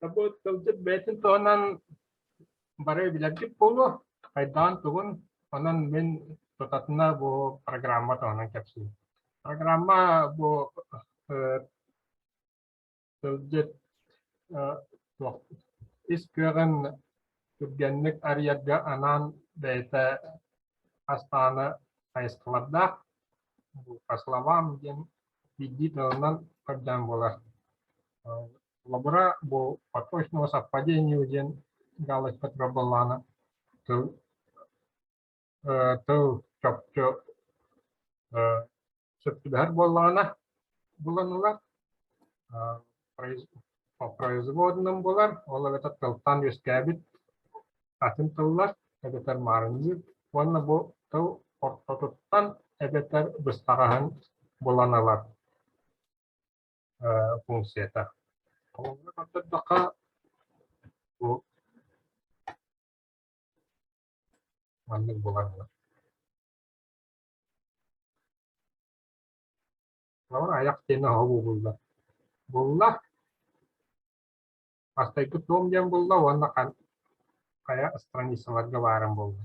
Тобу тылдьыт бэйэтин туһунан бары билэргит буолуо, хайдаҕын-тугун. Онон мин тутатына бу программа туһунан кэпсиим. Программа бу э, тылдьыт э, ис кыаҕын түргэнник арыйарга анаан бэйэтэ астааны хайысхалардаах по словам диэн биирдии тылынан көрдөөн буолар. лабора бу подпочного совпадению диэн галость петробаллана тыл тыл чопчу сөптүбэһэр буоллаҕына буланылар по производным булар ол эбэтэ тылтан үөскээбит атын тыллар эбэтэр маарынньыыр уонна бу тыл ортотуттан эбэтэр быстаҕаһын булан ылар функцията. Холобура көрдөрдөххө, бу маннык булар Ама аяқ тені холууллар. Булла. Астайбыт дом диэн булла уонна хайа страницаларга бааран булла.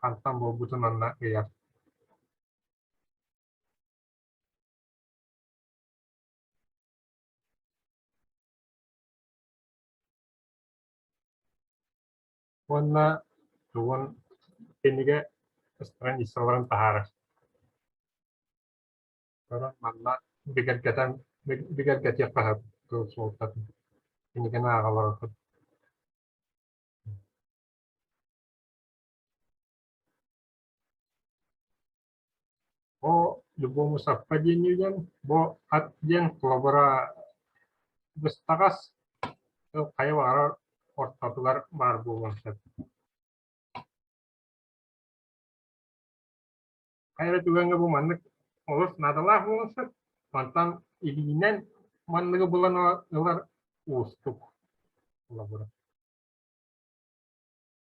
хантан буолбутун онно ыйар уонна тугун кинигэ страницаларын таһаарар манна бигэргэтэн бигэргэтиэххэ сөп суолтатын кинигэни ааҕа олороргут Бу Любому Саппа диэн үгэн, бу ат диэн холобура быстаҕас, тыл хайа баҕарар ортотугар баар буолуон сөп. Хайа эрэ түгэҥҥэ бу маннык олус наадалаах буолуон сөп. Мантан илиинэн манныгы булан ылар уустук холобура.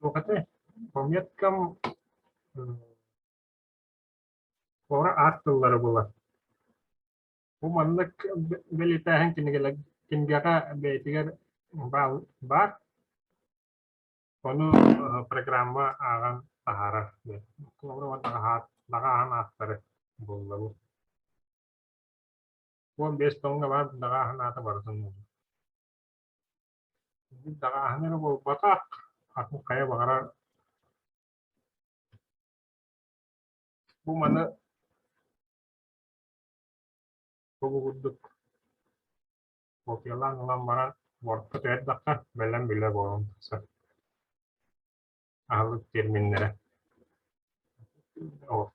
Туохата, планеткам туора аар тыллары булан. Бу маннык бэлиэтээһин кинигэҕэ бэйэтигэр баар. Ону программа ааҕан таһаарар. Наҕаа аан ааттары буллабын. Уон биэс тонна баар наҕаа анаата барытын Даҕааһын эрэ буолбатах, атын хайа баҕарар бу маны тугу курдук копиялаан ылан баран Wordка түһэрдэххэ бэлэм билэ буолуон сөп. Аһылык терминнэрэ. Вот.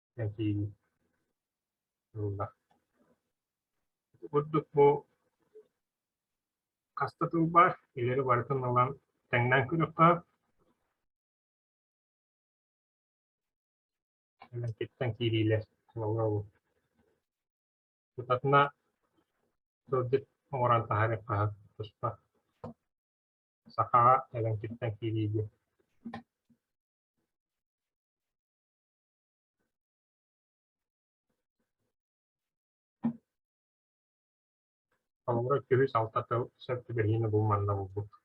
этии ылла. Ити курдук бу хаста тылбар илэри барытын ылан тэҥнээн көрүөххэ. Мемлекеттен киириилэр олоҕу тутатына сылдьыт оҥорон таһаарыахха туспа. Сахаҕа Элэҥкиттэн киирии диэн. Холобура, күһүс, алта тыл сөп түбэһиини бу манна булбут.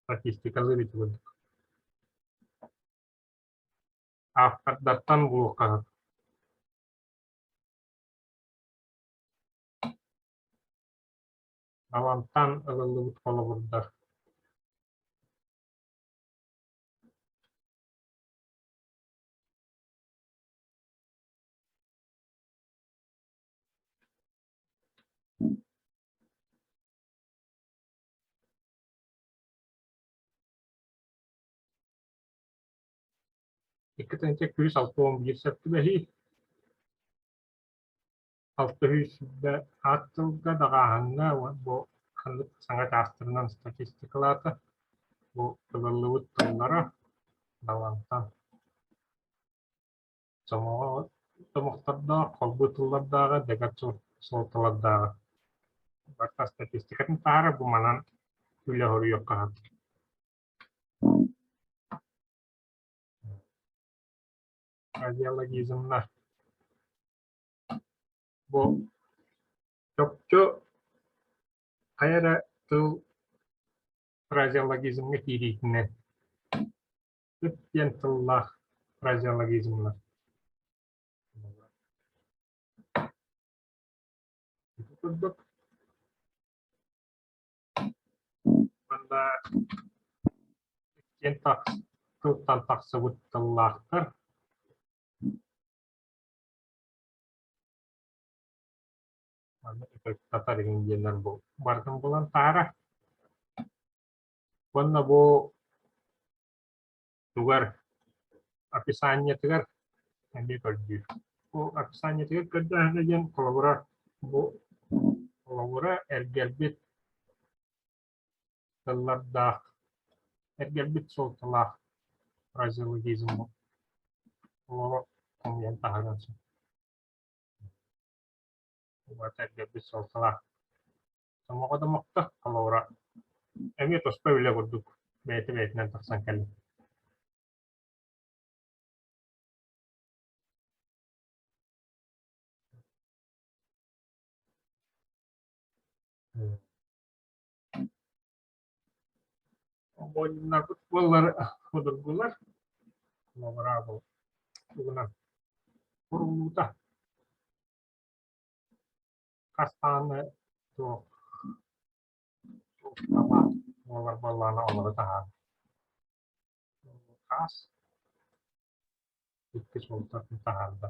Статистикалыы ити курдук. Автордартан булуохха сөп. Балантан ылыллыбыт холобурдар. Икки тыһыынча күүс алта уон биир сөптүбэһии Алтыһыыссыйа аат тылга даҕааһыҥҥа бу ханнык саҥа чаастарынан статистикалаата, бу ылыллыбыт тыллара Далантан сомоҕо сомохтордоох, холбуу тыллардааҕа, дэгэр суолталардааҕа. Барыта статистикатын таһара бу манан үлэ хоруйуохха хатыр. Идеологизмна Бу чопчу хайа эрэ тыл фразеологизмҥа киириитинэн үп диэн тыллаах фразеологизмнар курдук манна иккиэн тылтан тахсыбыт тыллаахтар Аны сатар иһин диэннэр бу бардым булан таара. Уонна бу тугар описаниетыгар эмиэ көрдүүр. Бу описаниетыгар көрдөөһүнэ диэн холобура бу холобура эргэлбит тыллардаах, эргэрбит суолталаах фразеологизм олоҕу хомуйан таһаарыан сөп. Уонна эргэрбит суолталаах. Сомоҕо да мохто, холобура, эмиэ туспа үлэ курдук бэйэтэ бэйэтинэн тахсан кэллим. Оҕонньорбут буоллар судургулар, лабыраабыл тугунан курулуута. Хастааны туох буолар буоллаана олору таһаан. Хаас иккис бултатын таһаарда.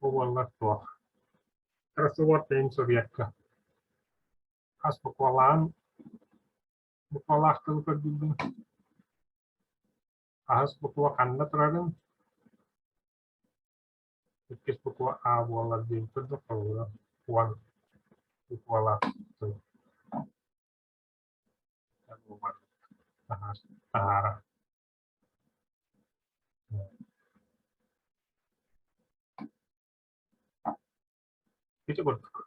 Бу буолла суох. Трассоводка иһин суруйарга. Хас буквалаан буквалаах тылы көрдүллүм. Аһыс буква ханна турарын иккис буква А буолар диэн курдук холобура уон буквалаах тыл. Таһаара. Ити курдук.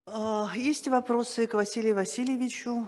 А, Есть вопросы к Василию Васильевичу?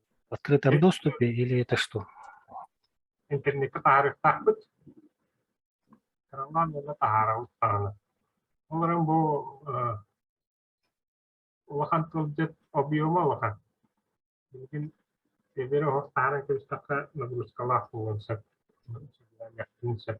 Открытое доступе или это что? Интернетка таһаарыахтаахпыт. Кыралаан уонна таһаарабыт даҕаны. Ол эрэн бу улахан тылдьыт объема улахан. Билигин эбэри оһох таһааран кэбистэххэ нагрузкалаах буолуон сөп. Сөп.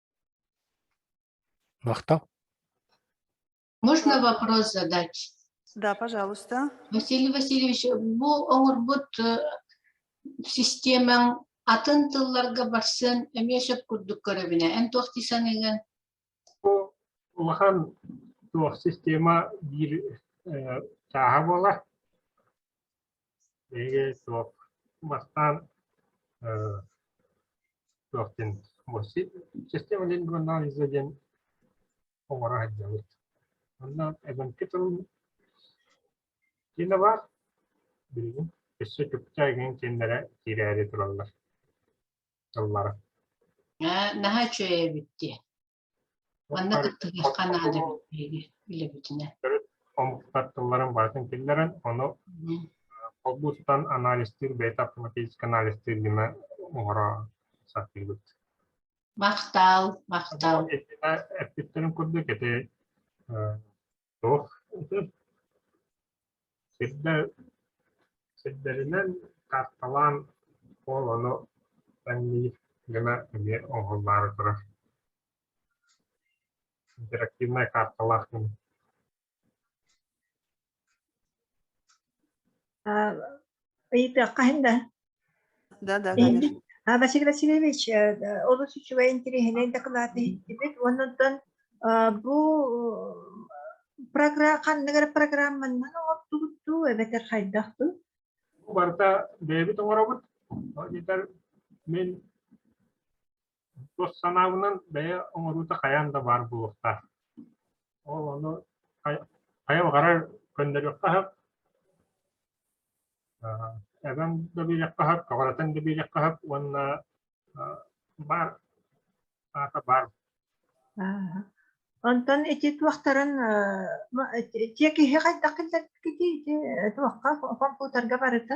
Махтал. Можно вопрос задать? Да, пожалуйста. Василий Васильевич, бу оҥорбут системаҥ атын тылларга барсан эмиэ сөп курдук көрөбүнэ. Эн туох дии саныыгын? Улахан туох система биир чааһа буолар. Эйиэ суох бастаан э туохтан Система лингвонал иза диэн оҥоро сылдьабыт. Онно эбэҥки тылын киинэ баар, билигин өссө чугчайгын кииннэрэ киирээри тураллар тыллара. Наһаа үчүгэй эбит диэ Уонна кыттыһыахха наада эбит билэбитинэ. Омуктар тылларын барытын киллэрэн, ону холбуустан анализтыыр, бэйэтэ автоматически анализтыыр гына оҥоро сатыыбыт. Махтаал, махтаал. Эппиттэрин курдук, ити Туох сирдэр сирдэринэн карталаан куоланы анньыы гына эмиэ оҥоһуллаары турар интерактивнай карталаах мин ыйытыахха иһин да Да-да, конечно. Василий Васильевич, олус үчүгэй интириэһинэй дакылаат иһиттибит уонунтан бу программ ханныгар программаннан оҥордубуттуу эбэтэр хайдах дуу? Бу барыта бэйэбит оҥоробут. Дьидар мин Тус санаабынан бэйэ оҥоруута хайаан да баар буолуохтаах. Ол ону хайа баҕарар көннөрүөххэ сөп, эбэм да биэриэххэ сөп, кабаратын да биэриэххэ сөп уонна баар аата баар. Онтон ити туохтарын те киһи хайдах киллэрбиккитий ити туохха компьютерга барыта?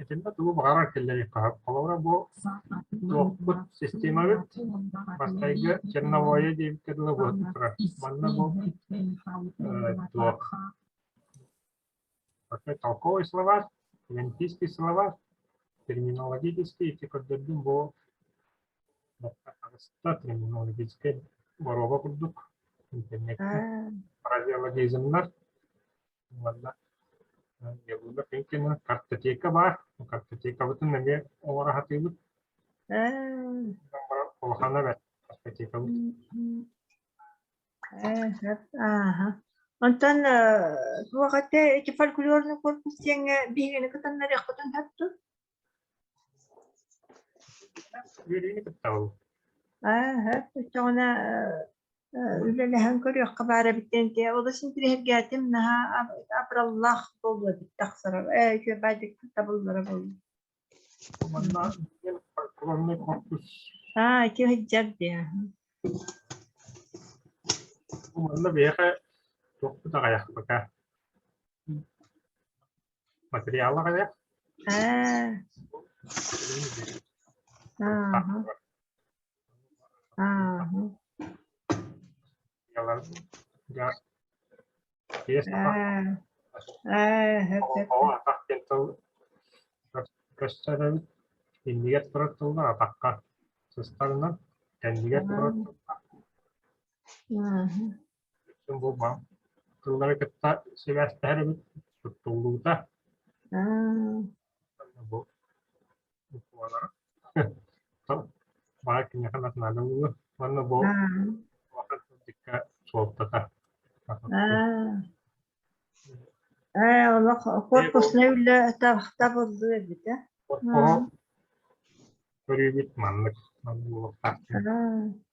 Итиннэ тугу баҕарар киллэриэххэ Холобура бу туохпут системабыт бастайга черновое диэбиккэ дылы буолан турар. Манна бу туох толковый словарь, лентийский словарь, терминологический, эти көрдөрдүм бу аҕыста терминологическай боруоба курдук интернеттик фразеологизмнар буолла. Дьабыылап инкина картотека баар. Картотекабытын эмиэ оҥоро сатыыбыт. Улахана бэрт картотекабыт. Ааха. Онтон туох ette эти фольклорный корпус диэҥҥэ биһигини кытаннарыахпытын сөптүк? Ааһа, өчөҕүнэ үлэлэһэн көрүөххэ баар эбиттэн дьэ олус интириэһиргээтим наһаа абыраллаах буолуо эбит тахсара ээ күөбээдик табыллара буолла аа ити сыдьар диэ манна биһиэхэ тохпут аҕайахпыта Материаллар эдэр. Көстөрөбүт иннигэр турар тыллар атахха сыстарынан кэннигэр турар тыллар Тыллары кытта сибээстэһэр эбит, туттуллуута. Бу баар киниэхэ национальный улуу манна бу дикка суолтата корпусный үлэ тахта булду эбитэ көрүүбүт маннык